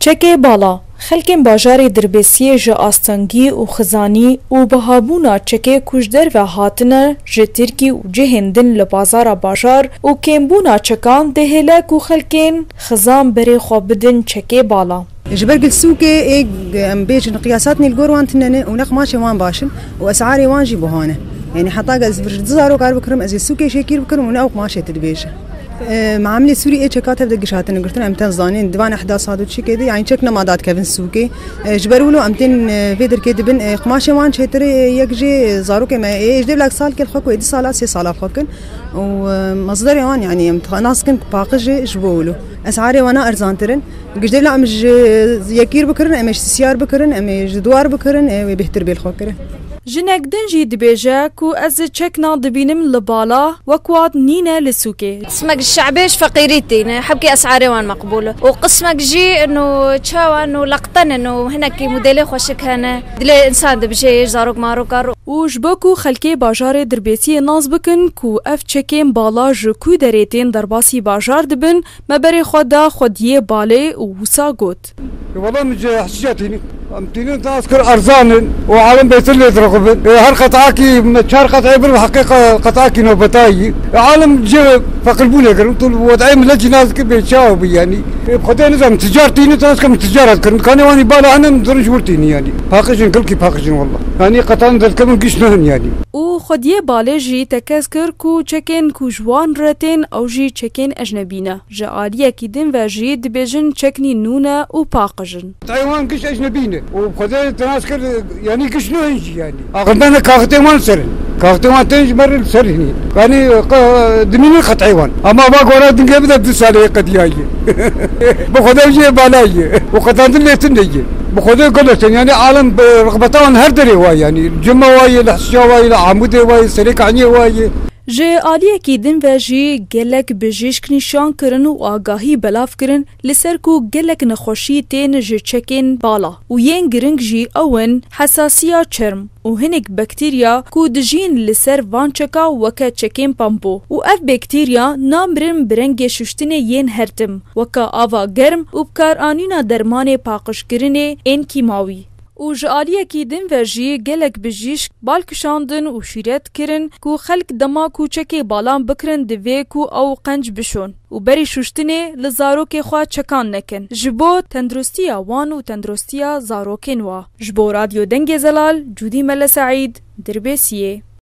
Çekê bala, Xelkên bajarê Dirbêsiyê ji astengî û xizanî û bihabûna çekê ku ji derve hatine ji Tirkî û cihên din li bazara bajar û kêmbûna çekan dihêle ku xelkên xizan berê xwe bidin çekê bala. Ji ber gilsûkê ê em bêjin qiyasatnê li gor wan tune ne û nexmaşên wan baş in û esarê wan jî buha ne. Yanî heta gel ez vir ji du zarok erbikirim ez ê sûkê şêkîr bikirim û ne ew qumaşê tu dibêje. Mamilê Sûrî ê çeka tev de giş hatine girtin em tên zanîn di van ehda sat û çikê de yanî çek nema dadkevin sûkê ji ber wilo em tên vê dirkê dibin qumaşê wan çêtirê yek jê zarokê me ê ji dêvlak sal kel xwe ku ê du sala sê sala xwe kin û mazdarê wan yanî em nas kin ku paqij jê ji bo wilo esarê wana erzantirin ji dêvla em ji yekîr bikirin em ê ji sîsyar bikirin em ê ji dwar bikirin ê wê bêhtir bê li xwe kirin. Jinek din jî dibêje ku ez çekna dibînim li bala wek wat nîne li sûkê. Qismek şe'bê ji feqîrî tîne, hebkî es'arê wan meqbûl e û qismek jî no çawa no leqten e, no hinekî modêlê xweşik hene, dilê însan dibije yê ji zarok maroka. Û ji bo ku xelkê bajarê dirbêsiyê nas bikin ku ev çekên bala ji ku derê tên derbasî bajar dibin, me berê xwe da xwediyê balê û wisa got. dest. Wele min cê hişîşa tînin. Em tînin di asker erzan in û alem bêtir lê dirixibin. Her qet'akî çar qet'ê bir bi heqê qet'akî nobetayî. Alem cê feqirbûnê kir û tu li wed'eyê milet jî nas dikir bêçav bû yanî. Bi xwedê nizanim ticar tînin tu asker min ticar hat kirin. Kanê wan jî bala hene min dirij wir tînin yanî. Paqij in kilkî paqij in wela. Yanî qet'an derkevin giş nihin yanî. Û xwediyê balê jî tekez kir ku çekên ku ji wan re tên ew jî çekên ecnebî ne. Ji aliyekî din ve jî dibêjin çeknî nû ne û paqij in. Tayê wan giş ecnebî ne û xwedê tinas kir yanî giş nû in jî yanî axindan e kaxitên wan li ser in. Kaxitên wan tên ji me re li ser hîn in. Yanî qe dimînin qet'î wan. Ama va gora dingê bide du sale yê qedîya ye. Bi xwedê jiyê bala ye û qetandin lê tune ye. Bi xwedê gelo tên yanî alem bi rixbeta wan her derê wa ye yanî li cima wa ye, li hisiya wa ye, li amûdê wa ye, serê kahniyê wa ye. Ji aliyekî din ve jî gelek bijîşk nîşan kirin û agahî belav kirin li ser ku gelek nexweşî tên ji çekên bala û yên giring jî ew in hesasiya çerm û hinek baktîrya ku dijîn li ser van çeka weke çekên pampo û ev baktîrya namirin bi rengê şuştinê yên her tim weke ava germ û bikaranîna dermanê paqijkirinê ên kîmawî. û ji aliyekî din ve jî gelek bijîşk bal kişandin û şîret kirin ku xelk dema ku çekê balan bikirin divê ku ew qenc bişon û berî şûştinê li zarokê xwe çekan nekin ji bo tenduristiya wan û tenduristiya zarokên wa. Ji bo Radyo Dengê Zelal, Cûdî Mele Seîd, Dirbêsiyê.